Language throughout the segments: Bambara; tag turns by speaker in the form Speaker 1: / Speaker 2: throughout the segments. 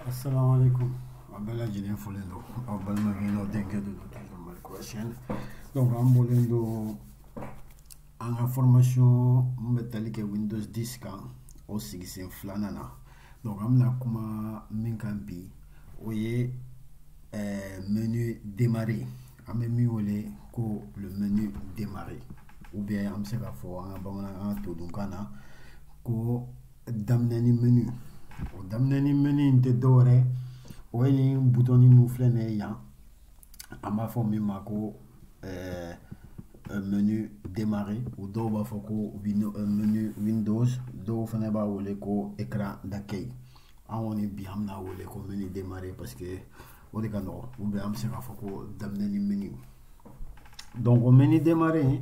Speaker 1: assalamu alaikum a bɛɛ lajɛlen folen don aw balimakɛ n'aw denkɛ de don toujours mali kura siyɛn donc an bɔlen don an ka formation min bɛ tali kɛ windows 10 kan o sigisen filanan na donc an bɛna kuma min kan bi o ye eh, menu démarrer an bɛ min wele ko le menu démarrer ou bien an bɛ se k'a fɔ an ka bamanankan todunkan na ko daminɛni menu o daminɛni menu in tɛ dɔwɛrɛ o ye nin butɔni min filɛ nin ye yan an b'a fɔ min ma ko eh, eh, menu démarrer u dɔw b'a fɔ ko eh, menu windows dɔw fana b'a wele ko écran d'accueil an kɔni bi an bɛn'a wele ko menu démarrer parce que o de ka nɔgɔ ou bien an bɛ se k'a fɔ ko daminɛni menu donc o menu démarrer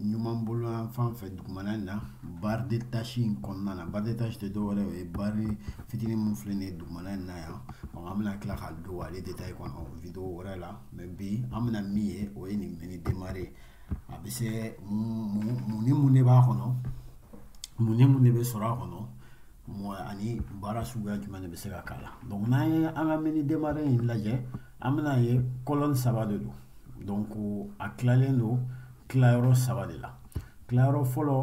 Speaker 1: ɲuman bolo yan fan fɛ dugumana in na barre de tâche in kɔnɔna na barre de tâche tɛ dɔwɛrɛ o ye barre fitinin min filɛ nin ye dugumana in na yan donc an bɛna tila ka don ale détail kɔnɔ video wɛrɛ la mais bi an bɛna min ye o ye nin menu démarrer a bɛ se mun ni mun de b'a kɔnɔ mun ni mun de bɛ sɔrɔ a kɔnɔ mɔgɔ ani baara suguya jumɛn de bɛ se ka k'a la donc n'an ye an ka menu démarrer in lajɛ an bɛn'a ye colonne saba de don donc a tilalen don tilayɔrɔ saba de la tilayɔrɔ fɔlɔ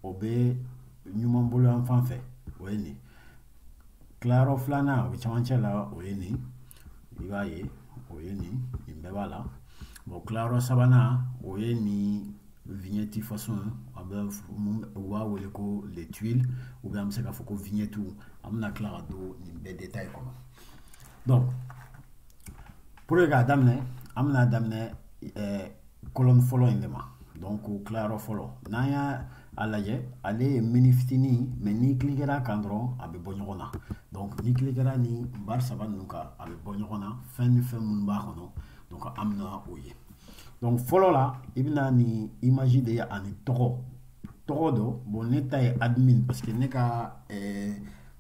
Speaker 1: o bɛ ɲuman bolo yan fan fɛ o ye nin tilayɔrɔ filanan o bɛ cɛmancɛ la o ye nin i b'a ye o ye nin nin bɛɛ b'a la bon tilayɔrɔ sabanan o ye nin vignette façon a bɛ u b'a wele ko les tuiles ou bien an bɛ se k'a fɔ ko vignette an bɛna tila ka don nin bɛɛ détail kɔnɔ donc pour que k'a daminɛ an bɛna daminɛ colonne fɔlɔ in de ma donc o tilayɔrɔ fɔlɔ n'an y'a lajɛ ale ye menu fitinin mais n'i kilikera a kan dɔrɔn a bɛ bɔ ɲɔgɔn na donc n'i kilikera nin barre saba ninnu kan a bɛ bɔ ɲɔgɔn na fɛn ni fɛn minnu b'a kɔnɔ donc an bɛna o ye donc fɔlɔ la i bɛna nin image de ye ani tɔgɔ tɔgɔ dɔ bon ne ta ye admin parce que ne ka ɛɛ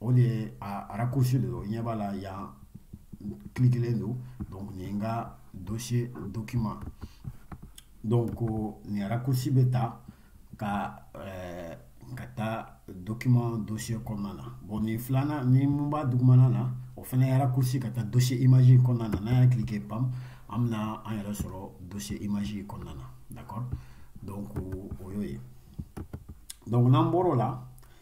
Speaker 1: o de ye a raccourci de don ɲɛ b'a la yan kilikelen don donc nin ye n ka dossier document donc nin raccourci bɛ ta ka ɛɛ ka taa document dossier kɔnɔna na bon nin filanan in min b'a dugumana na o fana ye raccourci ka taa dossier image kɔnɔna na n'an y'a cliquer pam an bɛna an yɛrɛ sɔrɔ dossier image kɔnɔna na d'accord donc o y'o ye donc n'an bɔr'o la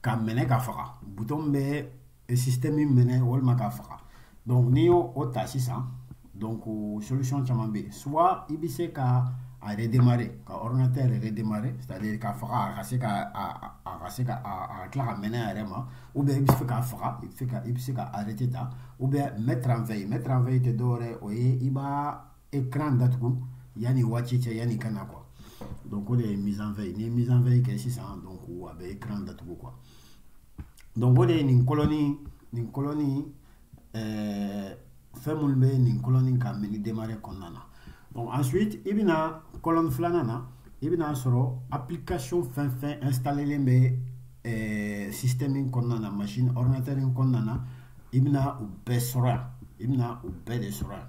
Speaker 1: ka mɛnɛ ka faga bouton bɛ système mɛnɛ walima ka faga donc n'i y'o ta sisan donc solution caman bɛ yen soit i bɛ se ka a redémarrer ka ordinateur redémarrer c'est-à-dire ka faga a ka se ka a a ka se ka a tila ka mɛnɛ a yɛrɛ ma ou bien i bɛ se k'a faga i bɛ se ka i bɛ se ka arrêter ta ou bien mettre en veille mettre en veille tɛ dɔwɛrɛ o ye i b'a écran datugu yanni waati cɛ yanni i ka na quoi donc o de ye mise en veille n'i ye mise en veille kɛ sisan donc a bɛ écran datugu quoi donc o de ye nin colonne nin colonne ɛɛ eh, fɛn minnu bɛ nin colonne ka menu démarrer kɔnɔna na donc ensuite i bɛna colonne filanan na i bɛna sɔrɔ application fɛn fɛn installélen bɛ ɛɛ eh, système in kɔnɔna na machine ordinateur in kɔnɔna na i bɛna u bɛɛ sɔrɔ yan i bɛna u bɛɛ de sɔrɔ yan.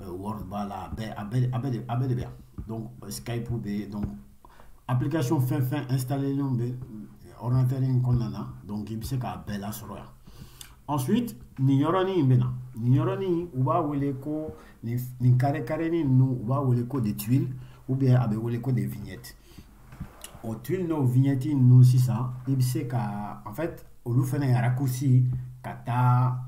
Speaker 1: euh, Word b'a la a bɛɛ a bɛɛ a bɛɛ de a bɛɛ de bɛ yan donc euh, Skype bɛ yen donc application fɛn fɛn installélen bɛ ordinateur in kɔnɔna na donc i bɛ se k'a bɛɛ lasɔrɔ yan ensuite nin yɔrɔnin in bɛ na nin yɔrɔnin u b'a wele ko nin nin carré carrénin ninnu u b'a wele ko des tuiles ou bien a bɛ wele ko des vignettes o tuiles n'o vignettes ninnu sisan i bɛ se ka en fait olu fana ye raccourci ka taa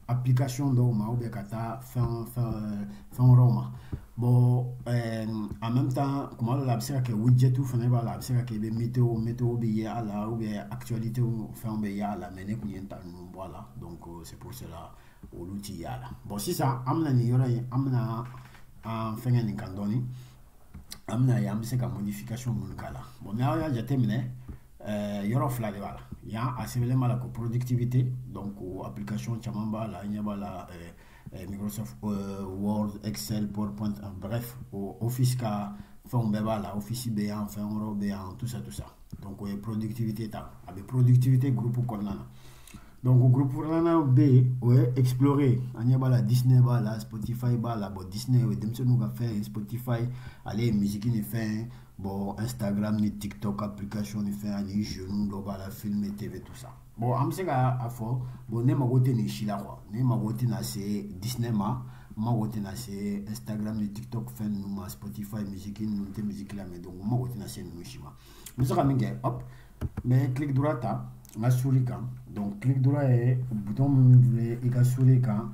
Speaker 1: application dɔw ma ou bien ka taa fɛn fɛn fɛn wɛrɛw ma bon euh, en même temps kuma dɔ la a bɛ se ka kɛ widget fana b'a la a bɛ se ka kɛ i bɛ météo météo bɛ ye a la ou bien actualité fɛnw bɛ ye a la mais ne kun ye n ta ninnu bɔ a la donc euh, c'est pour cela olu ti ye a la bon sisan an bɛna nin yɔrɔ in an bɛna an fɛngɛ nin kan dɔɔni an bɛna ye an bɛ se ka modification minnu k'a la bon n'aw y'a jateminɛ Eh, yɔrɔ fila de b'a la yan a sɛbɛnlen b'a la ko productivité donc o application caman b'a la an ɲɛ b'a la eh, eh, Microsoft Word Excel PowerPoint bref o Office ka fɛnw bɛɛ b'a la Office bɛ yan fɛn wɛrɛw bɛ yan tout ça tout ça donc o ye productivité ta a bɛ productivité groupe kɔnɔna na donc groupe filanan bɛ yen o ye explorer an ɲɛ b'a la Disney b'a la Spotify b'a la bon Disney o ye denmisɛnninw ka fɛn ye Spotify ale ye musique ni fɛn ye Bon, Instagram ni TikTok application ni fɛn ani jeux dɔ b'a la film et TV tout ça. Bon, an bɛ se ka a fɔ bon ne mago tɛ nin si la quoi. Ne mago tɛna se Disney ma, n mago tɛna se Instagram ni TikTok fɛn ninnu ma, Spotify musique ninnu tɛ musique lamɛn donc n mago tɛna se ninnu si ma. N bɛ se ka min kɛ hop, n bɛ clic droit ta n ka souris kan donc clic droit ye bouton min bɛ i ka souris kan.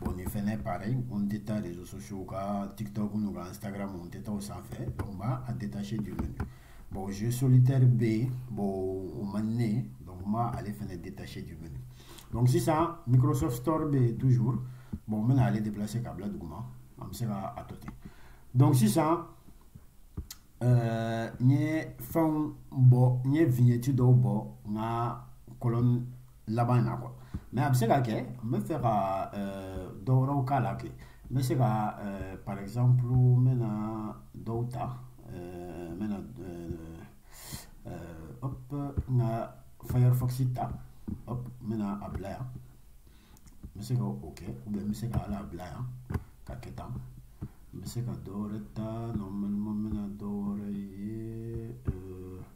Speaker 1: bon nin fɛnɛ pareil ko n tɛ taa réseaux sociaux ka tiktok n'u ka instagram n tɛ taa o sanfɛ donc n b'a a détacher du menu bon jeu solitaire bɛ yen bon o man di ne ye donc n b'a ale fɛnɛ détacher du menu donc sisan microsoft store bɛ yen toujours bon n bɛna ale déplacer ka bila duguma an bɛ se ka a to ten donc sisan ɛɛ n ye fɛnw bɔ n ye vignette dɔw bɔ n ka colonne laban in na quoi mais a bɛ se ka kɛ n bɛ fɛ ka dɔ wɛrɛw k'a la kɛ n bɛ se ka par exemple n bɛna dɔw ta n bɛna hop n ka firefox ta hop n bɛna a bila yan n bɛ se ka o kɛ ou bien n bɛ se ka ale bila yan ka kɛ tan n bɛ se ka dɔ wɛrɛ ta normalement n bɛna dɔ wɛrɛ ye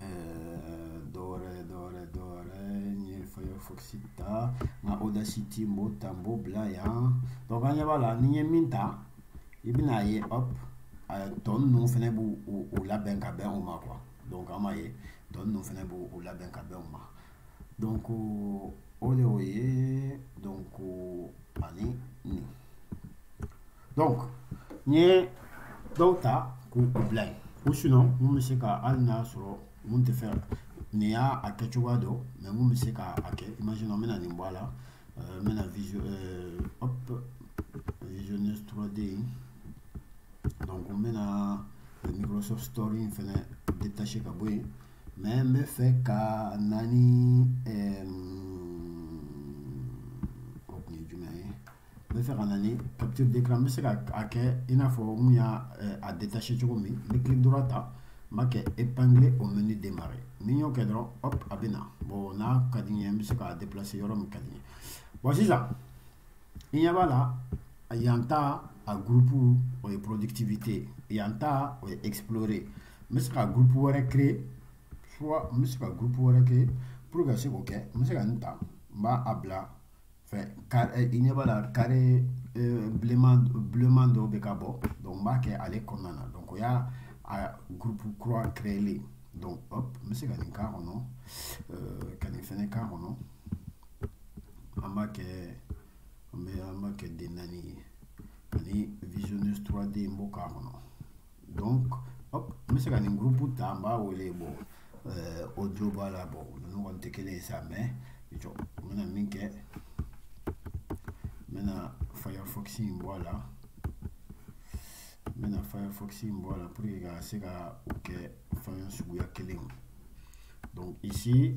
Speaker 1: eh, dɔ wɛrɛ dɔ wɛrɛ dɔ wɛrɛ n ye firefox ta n ka audacity n b'o ta n b'o bila yan donc an ɲɛ b'a la n'i ye min ta i bɛna ye hop eh, tɔ ninnu fɛnɛ b'u u labɛn ka bɛn o ma quoi donc an b'a ye tɔ ninnu fɛnɛ b'u u labɛn ka bɛn o ma donc o de y'o ye donc ani nin donc n ye dɔw ta k'u bila yen ou sinon mun bɛ se ka hali n'a sɔrɔ mun tɛ fɛ nin y'a a kɛ cogoya dɔ mais mun bɛ se ka a kɛ imagine n bɛna nin bɔ a la n bɛna visio hop visionneuse 3D in donc n bɛna Microsoft Store in fɛnɛ détacher ka bɔ yen mais n bɛ fɛ ka na ni n bɛ fɛ ka na ni capture d'écran n bɛ se ka a kɛ i n'a fɔ n y'a a détacher cogo min n bɛ clic droit ta n b'a kɛ épingler au menu démarrer ni n y'o kɛ dɔrɔn hop a bɛ na bon n'a ka di n ye n bɛ se k'a déplacer yɔrɔ min ka di n ye bon sisan i ɲɛ b'a la yan ta a groupe o ye productivité yan ta o ye explorer n bɛ se ka groupe wɛrɛ créer soit n bɛ se ka groupe wɛrɛ créer pour que ka se k'o kɛ n bɛ se ka nin ta n b'a a bila fɛ eh, i ɲɛ b'a la carré eh, bleuman dɔw bɛ ka bɔ donc n b'a kɛ ale kɔnɔna na donc o y'a a groupe kura créer donc hop n bɛ se ka nin k'a kɔnɔ euh, ka nin fɛnɛ k'a kɔnɔ an b'a kɛ an bɛ an b'a kɛ den naani ye ani visionneuse 3D n b'o k'a kɔnɔ. donc hop n bɛ se ka nin groupe ta n b'a wele bon euh, audio b'a la bon ninnu kɔni tɛ kelen ye sa mais jɔ n bɛna min kɛ n bɛna firefox in bɔ a la n bɛna firefox in bɔ a la pour que ka se ka o kɛ fɛn suguya kelen ye donc ici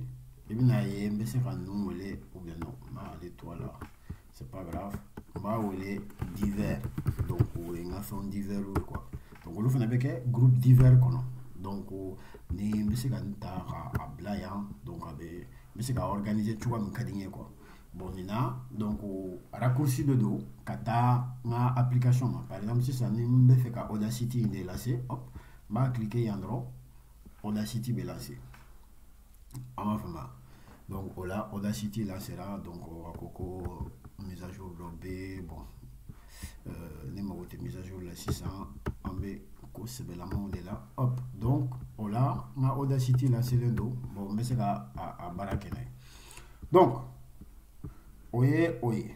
Speaker 1: i bɛna ye n bɛ se ka ninnu wele ou bien non n b'ale to a la c'est pas grave u b'a wele divers donc o ye n ka fɛnw divers ye quoi donc olu fana bɛ kɛ groupe divers kɔnɔ donc ni n bɛ se ka n ta ka a bila yan donc a bɛ n bɛ se ka organiser cogoya min ka di n ye quoi bon nin na donc raccourci de don ka taa n ka application ma par exemple sisan ni n bɛ fɛ ka audacity in de lancer hop n b'a cliquer yan dɔrɔn audacity bɛ lancer an b'a faamuya donc o la audacity lancera donc a ko ko mise à jour dɔ bɛ bon euh, ne mago tɛ mise à jour la sisan an bɛ ko sɛbɛlamaw de la hop donc o la n ka audacity lancelen don bon n bɛ se ka a baara kɛ n'a ye donc o ye o ye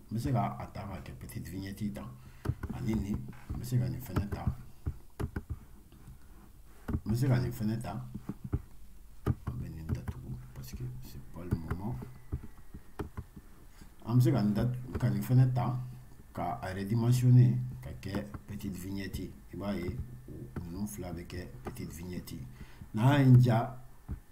Speaker 1: n bɛ se ka a ta ka kɛ petite vignette ta ani nin n bɛ se ka nin fɛnɛ ta n bɛ se ka nin fɛnɛ ta an bɛ nin datugu parce que c'est pas le moment an bɛ se ka nin fɛnɛ ta ka a redimensionner ka kɛ petite vignette ye i b'a ye ninnu fila bɛ kɛ petite vignette ye n'a ye n ja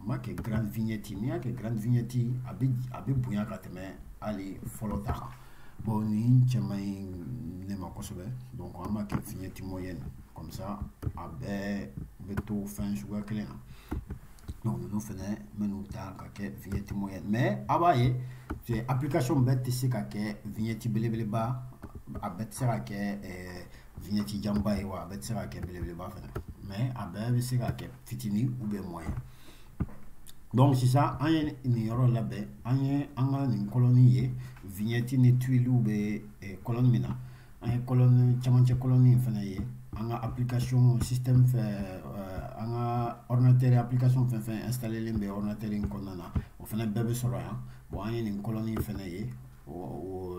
Speaker 1: n b'a kɛ grand vignette n'i y'a kɛ grand vignette a bɛ a bɛ bonya ka tɛmɛ hali fɔlɔ ta kan bon nin cɛ man ɲi ne ma kosɛbɛ donc an b'a kɛ vignette moyenne comme ça a bɛɛ bɛ to fɛn suguya kelen na donc ninnu fɛnɛ n bɛ n'u ta ka kɛ vignette moyenne mais a b'a ye application bɛɛ tɛ se ka kɛ vignette belebeleba a bɛɛ tɛ se ka kɛ ɛɛ vignette janba ye wa a bɛɛ tɛ se ka kɛ belebeleba fana mais a bɛɛ bɛ se ka kɛ fitinin ou bien moyen donc sisan an ye nin yɔrɔ labɛn an ye an ka nin colonne ye vignette ni tuilew bɛ colonne min na an ye colonne camancɛ colonne in fana ye an ka application système fɛ an ka ordinateur application fɛn fɛn installelen bɛ ordinateur in kɔnɔna na o fana bɛɛ bɛ sɔrɔ yan bon an ye nin colonne in fana ye o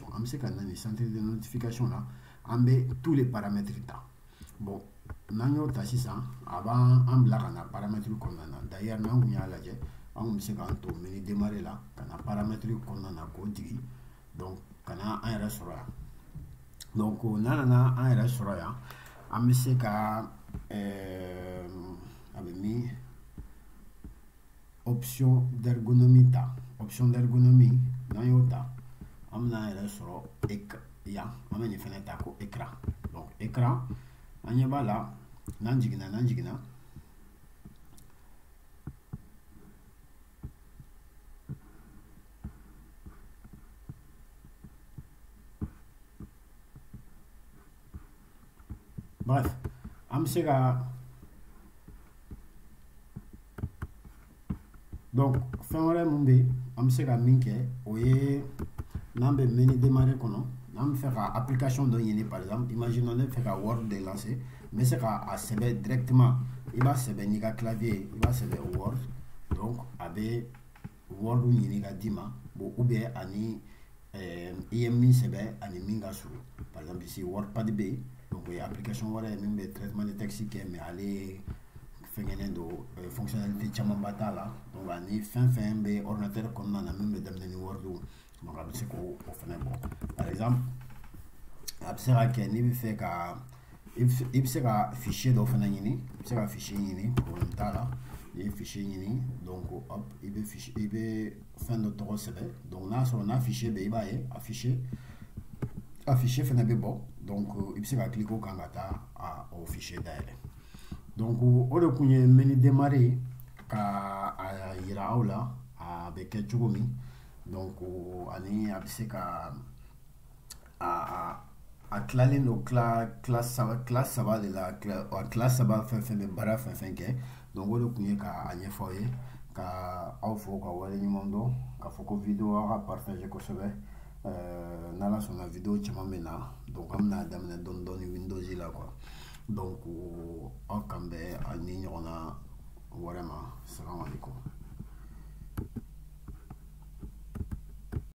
Speaker 1: donc an bɛ se ka na nin centre de notification na an bɛ tous les paramètres ta bon n'an y'o ta sisan a b'an bila ka na paramètre kɔnɔna na d'ailleurs n'an kun y'a lajɛ an kun bɛ se k'an to menu démarrer la ka na paramètre kɔnɔna na k'o jigin donc ka na an yɛrɛ sɔrɔ yan donc n'an nana an yɛrɛ sɔrɔ yan an bɛ se ka ɛɛ a bɛ min option d'ergonomie ta option d'ergonomie n'an y'o ta an bɛna an yɛrɛ sɔrɔ yan an bɛ nin fɛnɛ ta ko écran donc écran an ɲɛ b'a la n'an jiginna n'an jiginna bref an bɛ se ka donc fɛn wɛrɛ min bɛ yen an bɛ se ka min kɛ o ye n'an bɛ menu démarrer kɔnɔ n'an bɛ fɛ ka application dɔ ɲini par exemple imaginons ne bɛ fɛ ka word de lancer n bɛ se ka a sɛbɛn directement i b'a sɛbɛn n'i ka clavier ye i b'a sɛbɛn word donc a bɛ word ɲini ka d'i ma bon ou bien ani eh, i ye min sɛbɛn ani min ka surun par exemple ici wordpad bɛ yen donc o ye application wɛrɛ ye min bɛ traitement de texte kɛ mais ale fɛngɛnen don eh, fonctionnalité camanba t'a la donc ani fɛn fɛn bɛ ordinateur kɔnɔna na min bɛ daminɛ ni word donc a bɛ se k'o fana bɔ par exemple a bɛ se ka kɛ n'i bɛ fɛ ka i bɛ se ka fichier dɔ fana ɲini i bɛ se ka fichier ɲini problème t'a la n'i ye fichier ɲini donc hop i bɛ fichier i bɛ fɛn dɔ tɔgɔ sɛbɛn donc n'a sɔrɔ n'a fichier bɛ i b'a ye a fichier a fichier fana bɛ bɔ donc i bɛ se ka cliquer o kan ka taa o fichier dayɛlɛ donc o de tun ye menu démarrer ka a jira aw la a bɛ kɛ cogo min. donc ani a bɛ se ka a a tilalen don tila saba de la a tila saba fɛn fɛn bɛ baara fɛn fɛn kɛ donc o de tun ye ka a ɲɛfɔ aw ye ka aw fo ka wale ɲuman dɔn k'a fɔ ko video aw k'a partager kosɛbɛ euh, n'ala sɔnna video caman bɛ na donc an bɛna daminɛ dɔɔni dɔɔni windows la quoi donc aw k'an bɛn a ni ɲɔgɔnna wɛrɛ ma salamu alaikum